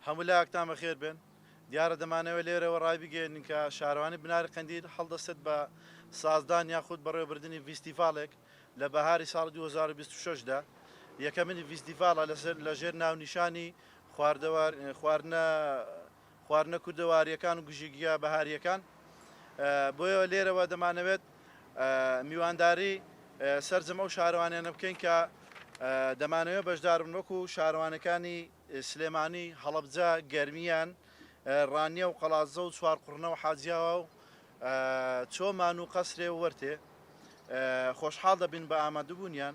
هەمولاکتان بەخێر بێن دیارە دەمانەوێت لێرەوە ڕایبگەیەنین کە شارەوانی بناری قەندیل هەڵدەستێت بە سازدان یاخود بەڕێوەبردنی ڤیستیڤاڵێک لە بەهاری ساڵی دوو هەزار و بیست و شەش دا یەکەمین ڤیستیڤاڵە لە ژێر ناونیشانی خواردنە خواردنە کوردەواریەکان و گژیگیا بەهاریەکان بۆیە لێرەوە دەمانەوێت میوانداری سەرجەم ئەو شارەوانیانە بکەین کە دەمانەوێت بەشداربن وەکو شارەوانەکانی سلێمانی هەڵبجە گەرمیان ڕانیە و قەڵازە و چوارقڕنە و حاجیاوا و چۆمان و قەسرێ وەرتێ خۆشحاڵ دەبین بە ئامادەبوونیان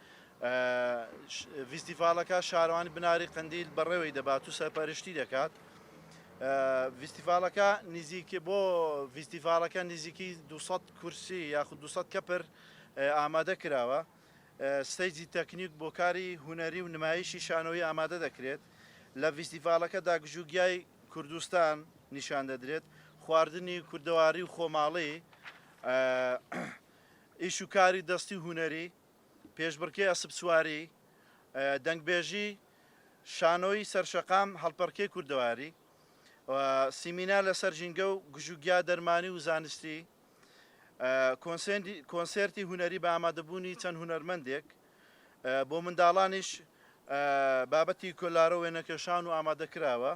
ڤیستیڤاڵەکە شارەوانی بناری قەندیل بەڕێوەی دەبات و سەرپەرشتی دەکات. ڤیستیڤاڵەکە نزیکی بۆ ڤیستیڤاڵەکە نزیکی 200 کورسی یاخود 200 کەپر ئامادە کراوە. ستەیجی تەکنیک بۆ کاری هونەری و نمایشی شانۆیی ئامادە دەکرێت. لە ڤیستیڤاڵەکەدا گژوگیای کوردستان نیشان دەدرێت، خواردنی کوردەواری و خۆماڵی، ئیش و کاری دەستی و هونەری. پێشبڕکێی ئەسپسواری، دەنگبێژی، شانۆی سەرشەقام، هەڵپەڕکێی کوردەواری و سیمینار لەسەر ژینگە و گژوگیا دەرمانی و زانستی، کۆنسێرتی هونەری بە ئامادەبوونی چەند هونەرمەندێک، بۆ منداڵانیش بابەتی کۆلارە وێنەکێشان و ئامادەکراوە.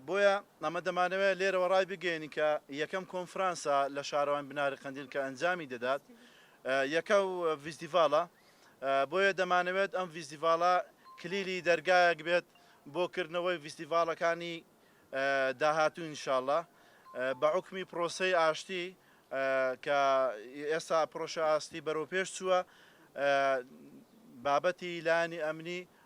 بۆیە ئەمە دەمانەوێت لێرەوە ڕایبگەیەنین کە یەکەم کۆنفرانسە لە شارەوان بناری قەندیل کە ئەنجامی دەدات یەکە و ڤیستیڤالە بۆیە دەمانەوێت ئەم ڤیستیڤالە کلیلی دەرگایەک بێت بۆ کردنەوەی ڤیستیڤالەکانی داهاتوو انشاءاللە بە عکمی پرۆسەی ئاشتی کە ئێستا پرۆشە ئاستی بەرەو پێش چووە بابەتی لانی ئەمنی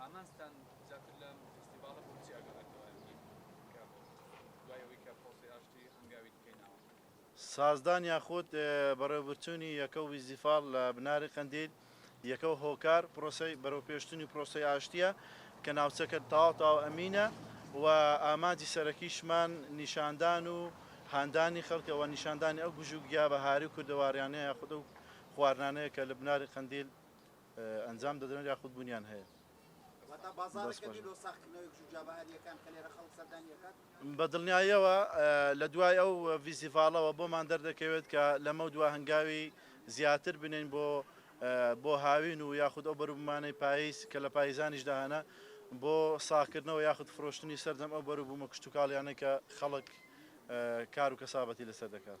ئامانجتان زیاتر لەم فیستیڤاڵە بۆ چی ئاگادارکەرایە بکەین کە دوای ئەوەی کە پرۆسەی ئاشتی هەنگاوی دیکەی ناوە؟ سازدان یاخود بەڕێوەبرچوونی یەکەو ویزیفاڵ لە بناری قەندیل یەکەو هۆکار پرۆسەی بەرەوپێشچونی پرۆسەی ئاشتیە کە ناوچەکە تەواو تەواو ئەمینە و ئامانجی سەرەکیشمان نیشاندان و هاندانی خەڵکە و نیشاندانی ئەو گژوگیا بەهاری و کوردەواریانەیە یاخود ئەو خواردنانەیە کە لە بناری قەندیل ئەنجام دەدرێن یاخود بونیان هەیە. واتە بازاڕێکە بیر لۆ ساغکردنەوەی گشوگیا بەهارییەکان کە لێرە خەڵک سەردانی ئەکات؟ بە دڵنیاییەوە لە دوای ئەو ڤیسیڤاڵەوە بۆمان دەردەکەوێت کە لەمەو دوا هەنگاوی زیاتر بنێین بۆ بۆ هاوین و یاخود ئەو بەروبومانەی پایز کە لە پایزانیشدا هەنە بۆ ساغکردنەوە یاخود فرۆشتنی سەرجەم ئەو بەروبومە کشتوکاڵیانەی کە خەڵک کار و کەسابەتی لەسەر دەکات.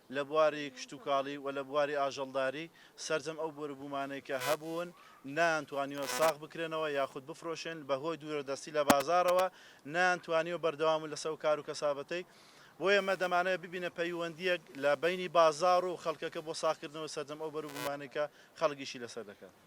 لە بواری کشتوکاڵی و لە بواری ئاژەڵداری، سەرجەم ئەو بۆروبوومانەی کە هەبوون نەیانتوانیوە ساغ بکرێنەوە یاخود بفرۆشێن، بەهۆی دوورەدەستی لە بازاڕەوە نەیانتوانیوە بەردەوام بن لەسەر ئەو کار و کەسابەتەی، بۆیە ئێمە دەمانەوێت ببینە پەیوەندییەک لە بەینی بازاڕ و خەڵکەکە بۆ ساغکردنەوەی سەرجەم ئەو بەروبوومانەی کە خەڵک ئیشی لەسەر دەکات.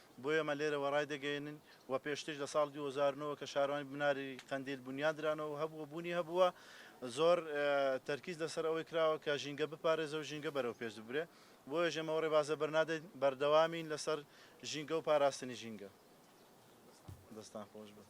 بۆ ئێمە لێرەوە ڕایدەگەیەنین و پێشتریش لە ساڵی دوو هەزار و نۆ کە شارەوانی بناری قەندیل بونیاد درانەوە و هەبوو و بوونی هەبووە زۆر تەرکیز لەسەر ئەوەی کراوە کە ژینگە بپارێزە و ژینگە بەرەو پێش ببرێ بۆیەش ئێمە ئەو ڕێبازە بەرنادەین بەردەوامین لەسەر ژینگە و پاراستنی ژینگە. دەستان خۆش بێت.